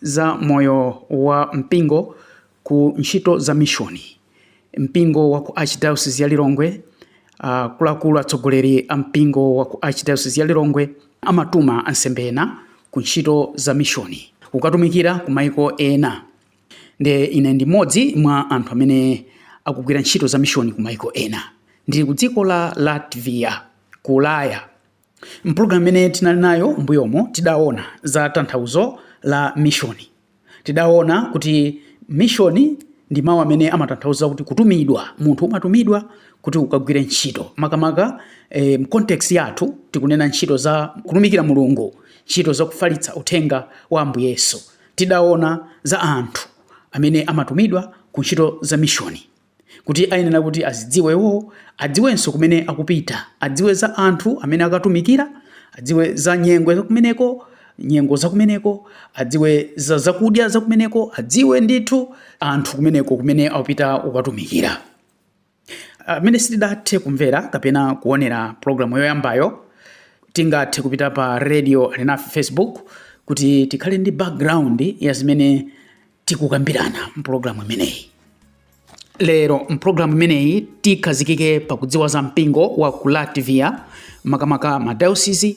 Za moyo wa mpingo ku ntchito za mishoni, mpingo wa ku Archdayosizi ya Lilongwe Akuluakulu, atsogoleri a mpingo wa ku Archdayosizi ya Lilongwe amatuma ansembe ena ku ntchito za mishoni kukatumikira ku maiko ena. Nde ine ndi mmodzi mwa anthu amene akugwira ntchito za mishoni ku maiko ena. Ndili ku dziko la Latvia ku Ulaya. M'pulogalamu imene tinali nayo m'mbuyomo, tidaona za tanthauzo la mishoni. Tidaona kuti mishoni ndi mawu amene amatanthauza kuti kutumidwa. Munthu umatumidwa kuti ukagwire ntchito. Makamaka e, mu context yathu tikunena ntchito za kutumikira Mulungu, ntchito za kufalitsa uthenga wa Ambuye Yesu. Tidaona za anthu amene amatumidwa ku ntchito za mishoni. kuti ayenera kuti azidziwe iwowo, adziwenso kumene akupita, adziwe za anthu amene akatumikira, adziwe za nyengo za kumeneko, nyengo za kumeneko, adziwe za zakudya za kumeneko, adziwe ndithu anthu kumeneko kumene akupita kukatumikira. Amene ah, sitidathe kumvera kapena kuonera programu yoyambayo tingathe kupita pa radio alinafe Facebook kuti tikhale ndi background ya zimene tikukambirana mpulogalamu imeneyi lero mpulogalamu imeneyi tikhazikike pakudziwa za mpingo wa ku latvia makamaka madayosizi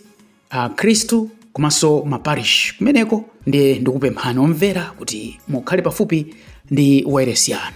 akhristu komanso maparish kumeneko ndiye ndikupemphani omvera kuti mukhale pafupi ndi wailesi yanu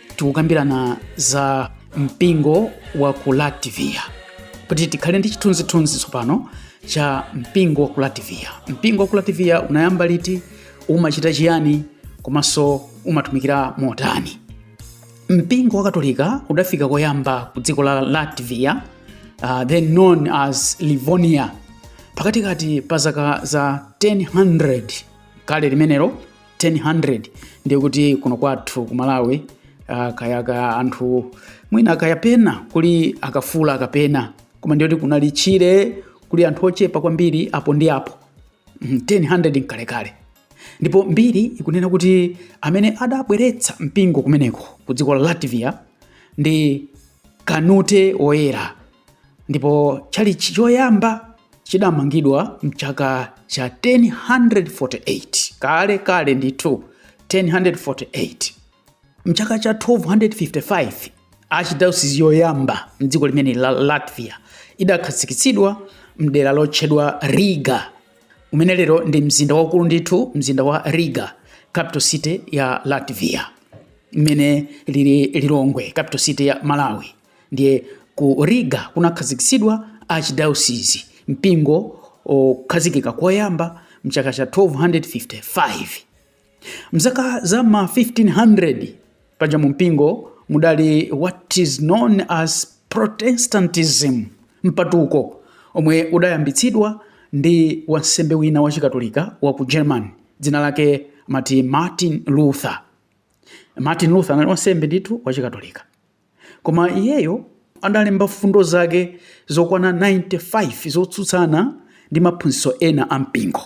tikukambirana za mpingo wa ku latvia kuti tikhale ndi chithunzithunzi tsopano cha mpingo wa ku latvia mpingo wa ku latvia unayamba liti umachita chiyani komanso umatumikira motani mpingo wa katolika udafika koyamba ku dziko la latvia uh, then known as livonia pakatikati pa zaka za 1000 kale limenelo 1000 ndiye kuti kuno kwathu ku malawi uh, kayaka anthu mwina akayapena kuli akafula akapena koma ndiye kuti kunali tchire kuli anthu ochepa kwambiri apo ndi apo 1000 mhm, nkalekale ndipo mbiri ikunena kuti amene adabweretsa mpingo kumeneko ku dziko la latvia ndi kanute woyera ndipo tchalitchi choyamba chidamangidwa mchaka cha 1048 kale kale ndithu 1048 mchaka cha 1255 archdiocese yoyamba mdziko limene la latvia idakhazikitsidwa mdera lotchedwa riga umene lero ndi mzinda waukulu ndithu mzinda wa riga capital city ya latvia mmene ilili lilongwe capital city ya malawi ndiye ku riga kunakhazikitsidwa archdiocese mpingo okhazikika koyamba mchaka cha 1255 mzaka za ma 1500 paja mu mpingo mudali what is known as protestantism mpatuko omwe udayambitsidwa ndi wansembe wina wa chikatolika wa ku german dzina lake mati martin luther martin luther anali wansembe ndithu wa chikatolika Koma iyeyo adalemba mfundo zake zokwana 95 zotsutsana ndi maphunzitso ena a mpingo.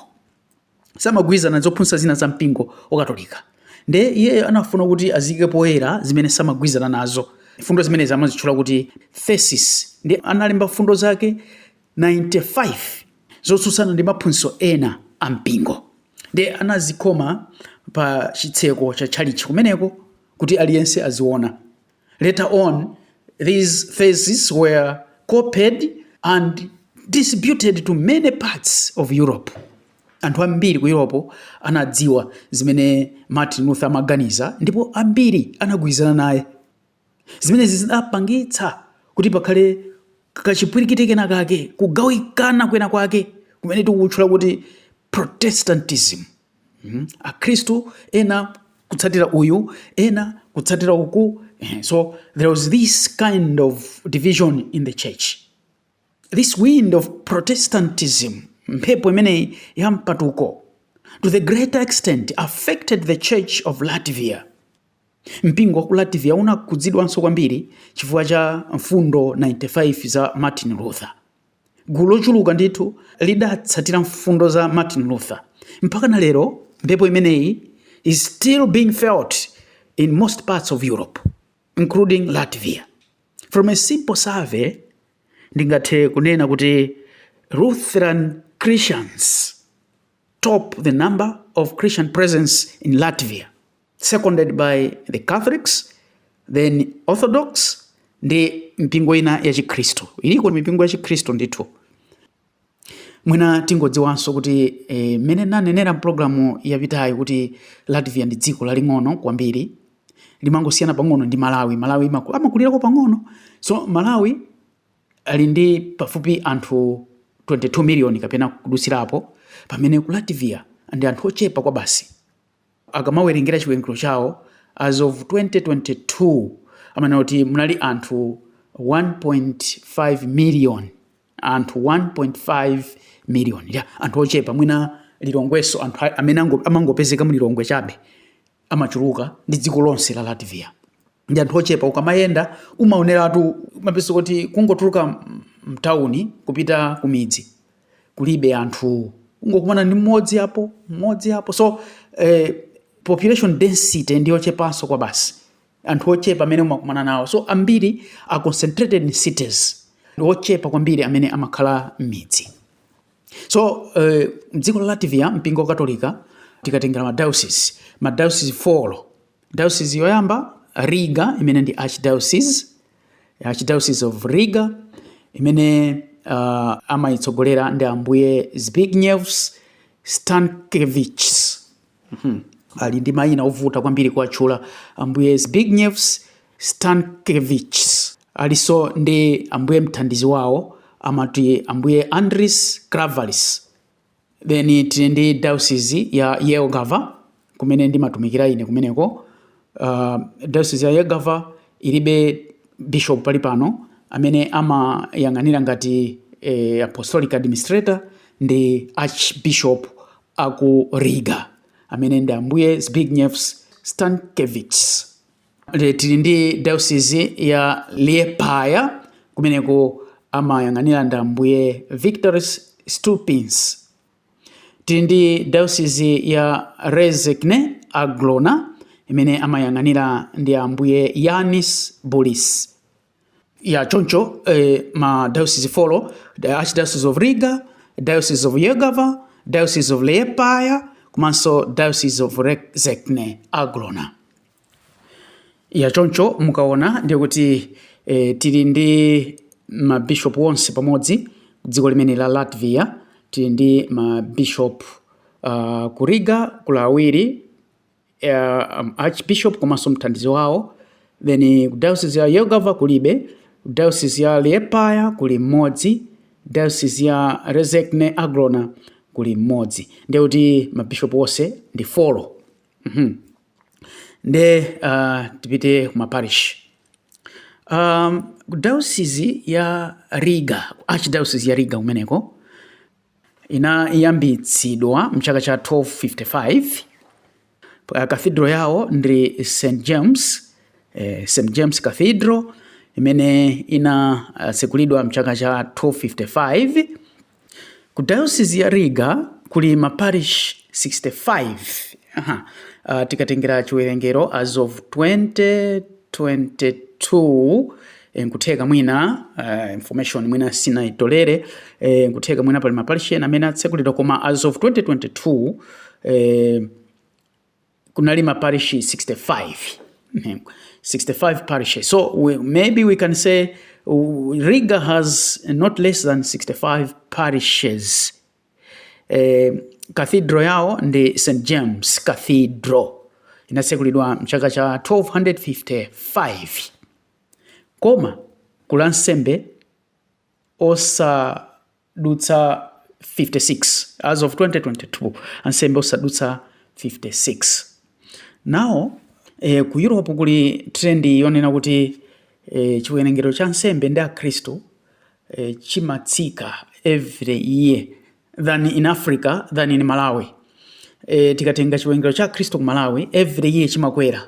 Samagwirizana zophunzitsa zina za mpingo wakatolika. Nde iyeyo anafuna kuti aziyike poyera zimene samagwirizana nazo. Mfundo zimenezi amazitchula kuti theses. Nde analemba mfundo zake 95 zotsutsana ndi maphunzitso ena a mpingo. Nde anazikhoma pa chitseko cha tchalitchi kumeneko. kuti aliyense aziona. Later on, these theses were copied and distributed to many parts of Europe. Anthu ambiri ku Europe anadziwa zimene Martin Luther amaganiza ndipo ambiri anagwirizana naye. Zimenezi zinapangitsa kuti pakhale kachipwirikiti kena kake kugawikana kwena kwake kumene tikutchula kuti Protestantism. mm. akhristu ena kutsatira uyu ena kutsatira uku eh, so there was this kind of division in the church this wind of protestantism mphepo imeneyi ya mpatuko to the greater extent affected the church of latvia mpingo wa ku latvia unakhudzidwanso kwambiri chifukwa cha mfundo 95 za martin luther Gulu lochuluka ndithu lidatsatira mfundo za Martin Luther. Mpakana lero mphepo imeneyi is still being felt in most parts of Europe including Latvia. From a simple survey ndingathe kunena kuti Lutheran Christians top the number of Christian presence in Latvia, seconded by the Catholics, then Orthodox, ndi mipingo ina ya Chikhristu. Iliko mipingo ya Chikhristu ndithu. Mwina tingodziwanso kuti eh, mmene nanenera mpulogalamu yapitayi kuti Latvia ndi dziko laling'ono kwambiri limangosiyana pang'ono ndi Malawi. Malawi amakulirako pang'ono, so Malawi ali ndi pafupifupi anthu 22 miliyoni kapena kudutsirapo, pamene ku Latvia ndi anthu ochepa kwabasi. Akamawerengera chiwerengero chawo, as of 2022, amanena kuti munali anthu 1.5 miliyoni, anthu 1.5 miliyoni, ya anthu ochepa mwina Lilongwenso anthu amene amangopezeka mu Lilongwe chabe amachuluka ndi dziko lonse la Latvia. ndi anthu ochepa ukamayenda umaoneratu myself kuti kungotuluka mtawuni kupita kumidzi kulibe anthu ungokumana ndi mmodzi apo mmodzi apo so eh, population density ndi yochepanso kwa basi anthu ochepa amene umakumana nawo so ambiri are concentrated in cities ndi ochepa kwambiri amene amakhala m'midzi so eh, mdziko la latvia mpingo wa katolika tikatengera madiocese madiocese 4 Diocese yoyamba Riga imene ndi Archdiocese, Archdiocese of Riga imene uh, amayitsogolera ndi ambuye Zbigņevs Stankevičs. Mm -hmm. Ali ndi mayina ovuta kwambiri kuwatchula ambuye Zbigņevs Stankevičs. Aliso ndi ambuye mthandizi wawo amati ambuye Andris Kravalis. then tili ndi diocese ya Jelgava kumene ndimatumikira ine kumeneko uh, diocese ya Jelgava ilibe bishop pali pano amene amayang'anira ngati eh, apostolic administrator ndi archbishop aku Riga amene ndi ambuye Zbigņevs Stankevičs Tili ndi Diocese ya Liepāja kumeneko amayang'anira ndi Ambuye Viktors Stulpins. Tili ndi Diocese ya Rezekne Aglona imene amayang'anira ndi Ambuye Jānis Bulis. ya choncho eh, ma diocese folo the archdiocese of riga diocese of jelgava diocese of liepaja komanso diocese of rezekne aglona ya choncho mukaona ndiye kuti eh, tili ndi mabishop onse pamodzi dziko lonse la latvia tili ndi mabishop uh, ah, ku riga kuli awiri uh, um, archbishop komanso mthandizi wawo then ku diocese ya jelgava kulibe ku diocese ya liepaja kuli mmodzi diocese ya rezekne aglona kuli mmodzi ndiye kuti mabishop onse ndi folo mm-hmm. nde uh, tipite ku maparish um, diocese ya riga archdiocese ya riga kumeneko Inayambitsidwa m'chaka cha 1255. Cathedral yawo ndi St. James, eh, St. James Cathedral imene inatsekulidwa m'chaka cha 1255. Ku diocese ya Riga kuli maparish 65. Aha. Uh, tikatengera chiwerengero as of 2022 Eh, nkutheka mwina uh, information mwina sindinaitolere eh, nkutheka mwina pali maparishi ena amene atsekulidwa koma as of 2022 eh, kunali maparishi 65 65 parishes so we, maybe we can say uh, riga has not less than 65 parishes eh, cathedral yao ndi st james cathedral inatsekulidwa mchaka cha 1255 Koma kuli ansembe osadutsa 56 as of 2022 ansembe osadutsa 56 now eh, ku Europe kuli trend yonena kuti eh, chiwerengero cha ansembe ndi akhristu eh, chimatsika every year than in Africa than in Malawi eh, tikatenga chiwerengero cha akhristu ku Malawi every year chimakwera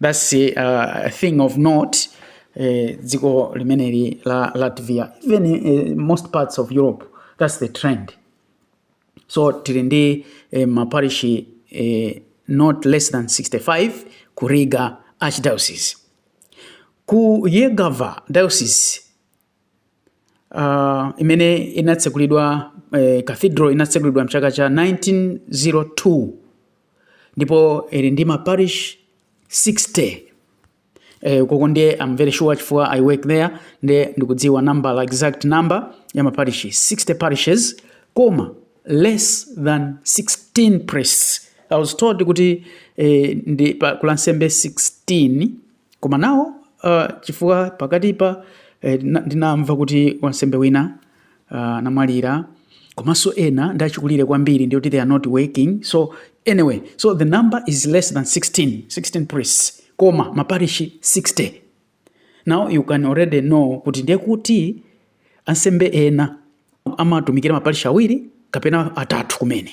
That's uh, a thing of note. Eh, dziko uh, limeneli la Latvia even uh, most parts of Europe that's the trend so tili ndi eh, maparishi eh, not less than 65 ku Riga archdiocese ku Yegava diocese uh, imene inatsegulidwa eh, cathedral inatsegulidwa mchaka cha 1902 ndipo ili ndi maparish 60 eh, uko ndiye I'm very sure chifukwa i work there ndiye ndikudziwa nambala exact number ya maparish 60 parishes koma less than 16 priests i was told kuti eh, ndi pa kuli ansembe 16 Koma now uh, chifukwa pakatipa eh, ndinamva kuti wansembe wina uh, anamwalira komanso ena ndi achikulire kwambiri ndiye kuti they are not working so anyway so the number is less than 16 16 priests koma maparishi 60 now you can already know kuti ndiye kuti ansembe ena amatumikira maparishi awiri kapena atatu kumene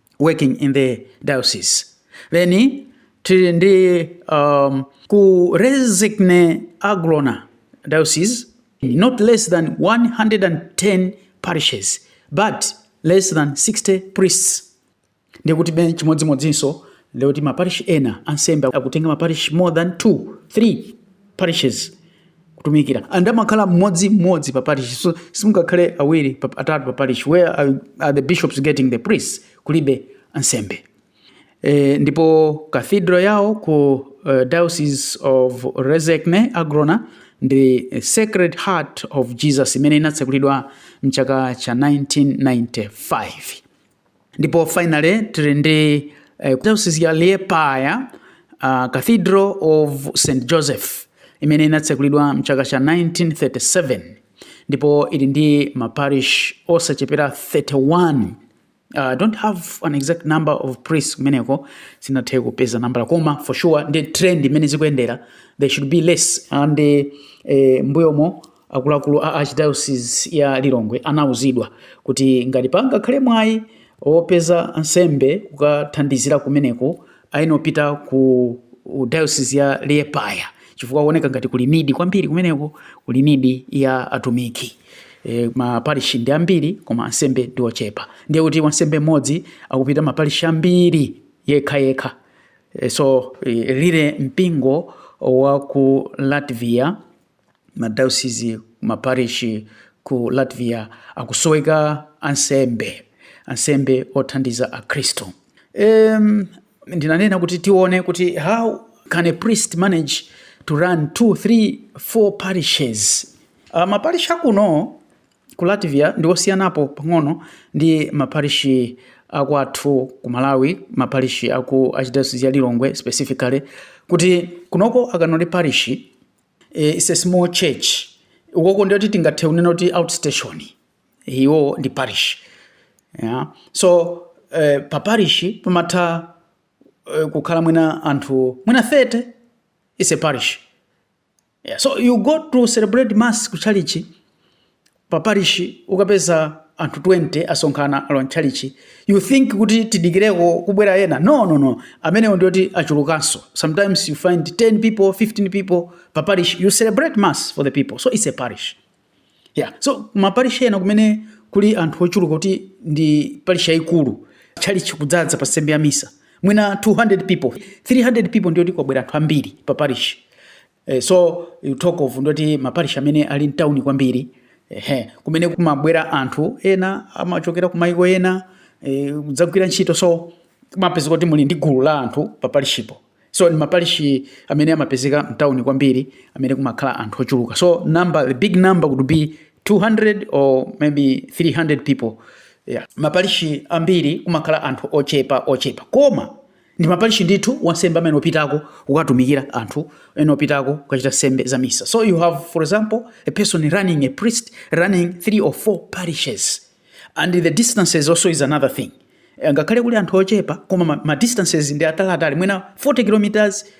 working in the diocese then tili ndi um, ku rezekne aglona diocese not less than 110 parishes but less than 60 priests ndiye kutibe chimodzimodzinso ndikuti maparish ena ansembe akutenga maparish more than 2 3 parishes kutumikira and amakhala mmodzi mmodzi pa parish so simungakhale awiri pa- atatu pa parish where are, are the bishops getting the priests kulibe ansembe e, ndipo cathedral yawo ku uh, diocese of rezekne aglona ndi eh, sacred heart of jesus imene inatsekulidwa mchaka cha 1995 ndipo finally tili ndi eh, diocese ya liepaja uh, cathedral of st joseph imene inatsekulidwa mchaka cha 1937 ndipo ili ndi maparish osachepera 31 Uh, don't have an exact number of priests kumeneko sindinathe kupeza nambala koma for sure ndi trend imene zikuyendera they should be less and uh, eh, mbuyomo Akuluakulu a Archdayosizi ya Lilongwe anauzidwa kuti ngati pangakhale mwayi opeza ansembe kukathandizira kumeneko ayenera apite ku dayosizi ya Liepaya chifukwa kuoneka ngati kuli need kwambiri kumeneko, kuli need ya atumiki. E, maparishi ndi ambiri koma ansembe ndi ochepa, ndiye kuti wansembe mmodzi akupita maparishi ambiri yekha yekha. E, so e, lile mpingo wa ku Latvia madayosizi ku maparishi ku latvia akusoweka ansembe ansembe othandiza akhristu um, ndinanena kuti tione kuti how can a priest manage to run two three four parishes uh, maparishi akuno ku latvia ndi osiyanapo pang'ono ndi maparishi akwathu ku malawi maparishi aku archdiocese ya lilongwe specifically kuti kunoko akanoti parishi e, is a small church ukoko ndiye kuti tingathe kunena kuti outstation iwo ndi parish yeah. so eh, pa parish pamatha eh, kukhala mwina anthu mwina 30 is a parish yeah. so you go to celebrate mass ku chalichi pa parish ukapeza anthu 20 asonkhana alowa mtchalichi you think kuti tidikireko kubwera ena no no no amenewo ndiye kuti achulukanso sometimes you find 10 people 15 people pa parish you celebrate mass for the people so it's a parish yeah so maparish ena kumene kuli anthu ochuluka kuti ndi parish yayikulu tchalichi kudzadza pa nsembe ya misa mwina 200 people 300 people ndiye kuti kwabwera anthu ambiri pa parish Eh, so you talk of ndiye kuti maparish amene ali mtauni kwambiri ehe kumene kumabwera anthu ena amachokera kumayiko ena eh, kudzagwira ntchito so kumapezeka kuti muli ndi gulu la anthu pa parishipo so ni maparishi amene amapezeka mtauni kwambiri amene kumakhala anthu ochuluka so number the big number would be 200 or maybe 300 people yeah. maparishi ambiri kumakhala anthu ochepa ochepa koma ndi maparishi ndithu wansembe amayenera kupitako kukatumikira anthu amayenera kupitako kukachita nsembe za misa so you have for example a person running a priest running three or four parishes and the distances also is another thing eh, ngakhale kuli anthu ochepa koma ma, ma distances ndi ataliatali mwina 40 kilometers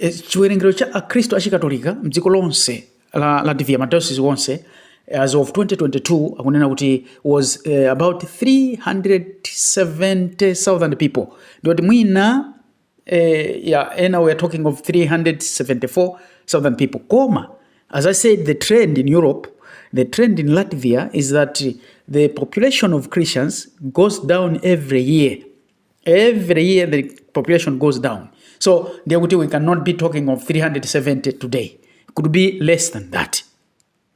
E, chiwerengero cha Akhristu Achikatolika mdziko lonse la Latvia, madayosizi onse as of 2022 akunena kuti was uh, about 370,000 people ndiye kuti mwina eh, yeah, ena we are talking of 374,000 people koma as I said the trend in Europe the trend in Latvia is that the population of Christians goes down every year every year the population goes down so ndiye kuti we cannot be talking of 370 today could be less than that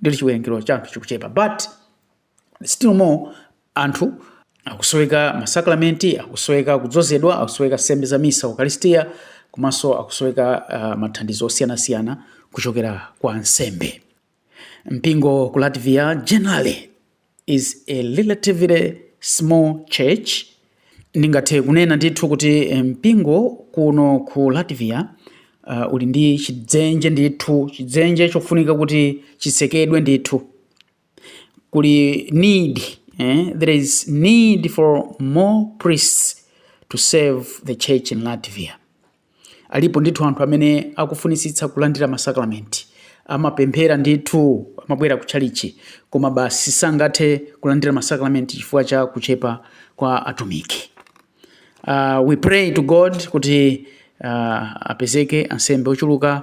ndiye chiwerengero cha anthu chikuchepa but still more anthu akusoweka masakramenti akusoweka kudzozedwa akusoweka nsembe za misa ukaristia komanso akusoweka uh, mathandizo osiyanasiyana kuchokera kwa ansembe Mpingo ku Latvia generally is a relatively small church. Ndingathe kunena ndithu kuti eh, mpingo kuno ku Latvia uh, uli ndi chidzenje ndithu, chidzenje chofunika kuti chitsekedwe ndithu. Kuli need, eh? there is need for more priests to serve the church in Latvia. Alipo ndithu anthu amene akufunitsitsa kulandira masakramenti, amapemphera ndithu, amabwera ku tchalitchi, koma basi sangathe kulandira masakramenti chifukwa cha kuchepa kwa atumiki. Uh, we pray to God kuti uh, apezeke ansembe ochuluka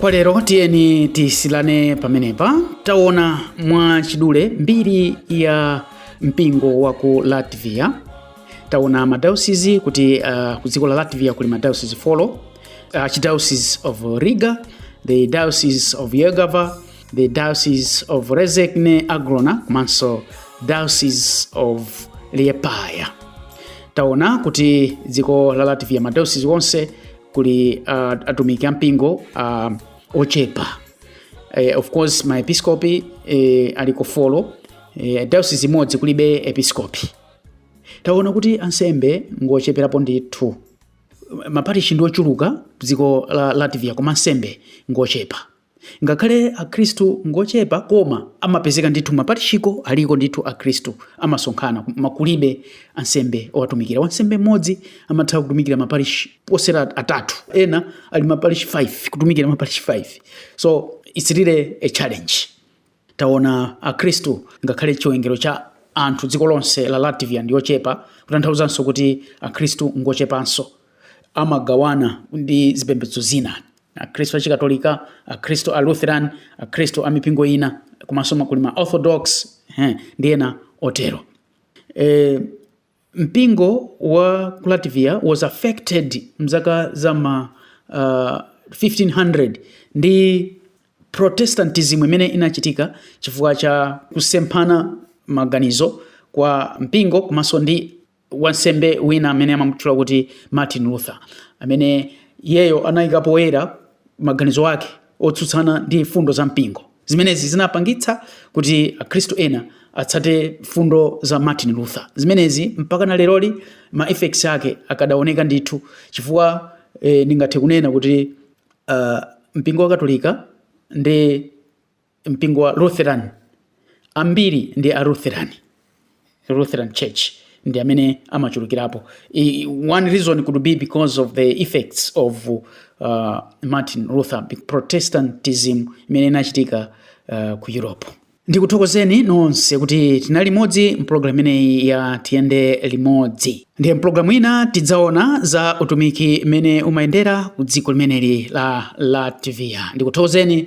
kwa lero tiyeni tisiyane pamenepa taona mwa chidule mbiri ya mpingo wa ku latvia taona madayosizi kuti uh, ku dziko la latvia kuli madayosizi folo uh, archdiocese of riga the diocese of jelgava the diocese of rezekne aglona komanso diocese of liepaya taona kuti dziko la latvia madayosizi onse kuli uh, atumiki ampingo uh, ochepa uh, of course maepiscopi uh, aliko folo uh, diocese imodzi kulibe episcopi taona kuti ansembe ngocheperapo ndithu maparishi ndi ochuluka dziko la latvia koma ansembe ngochepa Ngakhale akhristu ngochepa koma amapezeka ndithu maparishiko aliko ndithu akhristu amasonkhana koma kulibe ansembe owatumikira wansembe mmodzi amatha kutumikira maparish oposera atatu ena ali maparish 5 kutumikira maparish 5 so it's really a challenge. Taona akhristu ngakhale chiwengero cha anthu dziko lonse la Latvia ndi ochepa kutanthauzanso kuti akhristu ngochepanso amagawana ndi zipembedzo zina akhristu a chikatolika akhristu a Lutheran akhristu a mipingo ina komanso kuli ma orthodox ndi ena otero e, Mpingo wa ku Latvia was affected m'zaka za m'ma uh, 1500 ndi Protestantism imene inachitika chifukwa cha kusemphana maganizo kwa mpingo komanso ndi wansembe wina amene amamutchula kuti Martin Luther amene iyeyo anayika poyera maganizo ake otsutsana ndi mfundo za mpingo. Zimenezi zinapangitsa kuti Akhristu ena atsate mfundo za Martin Luther. Zimenezi mpaka na leroli ma effects ake akadaoneka ndithu chifukwa eh, ndingathe kunena kuti uh, mpingo wa Katolika ndi mpingo wa Lutheran ambiri ndi a Lutheran. Lutheran Church ndi amene amachulukirapo. I, one reason could be because of the effects of uh, Martin Luther Protestantism imene inachitika uh, ku Europe. Ndikuthokozeni nonse kuti tinali limodzi mpulogalamu imeneyi ya tiyende limodzi. Ndiye mpulogalamu ina tidzaona za utumiki mmene umayendera ku dziko limeneli la Latvia. Ndikuthokozeni